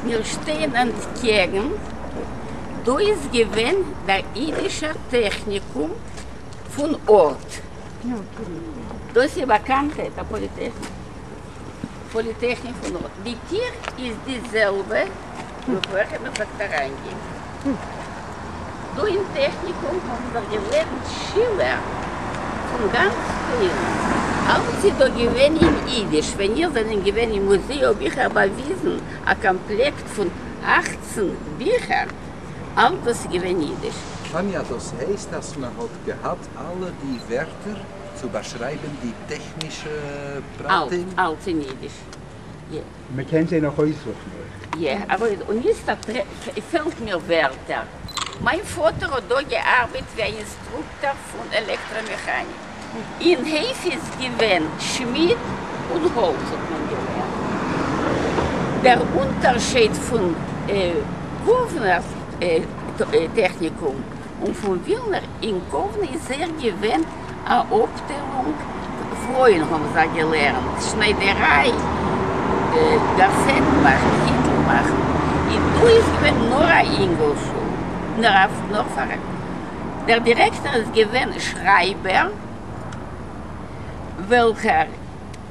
מיר שטייען אנטקעגן, דא איז געווען דער אידישער טעכניקום פון ארט, דאס איז באקאנט דער פאליטעכניק פון ארט, די טיר איז די זעלבע. בעפאר איך מיך וועט אריינגעבן דא אין טעכניקום האבן דאך געלערנט שילער פון גאנץ פריער, אלעס איז דא געווען אין אידיש, ווען איר זענען געווען אין מוזיי האב איך אייך באוויזן א קאמפלעקט פון אַכצן ביכער, אלס דאס איז געווען אידיש. טאניא, דאס הייסט אז מען האט געהאט אלע די ווערטער צו באשרייבען די טעכנישע פרטים? אלס אין אידיש. מען קען זיי נאך אויסזוכן אויך. יע, ארויס, און יעצט פעלט מיר ווערטער. מיין פאטער האט דא געארבעט ווי א אינסטרוקטאר פון עלעקטראמעכאניק. אין הייף איז געווען שמיד און האלץ האט מען געלערנט. דער אונטערשייד פון קאוונער טעכניקום און פון ווילנער אין קאוונע איז זייער געווען. א אפטיילונג פרויען האבן זיי געלערנט שניידעריי, גארסעטן מאכן, היטל מאכן, און דא איז געווען נאר א אינגל שול, נאר פאר דער דירעקטאר איז געווען שרייבער וועלכער.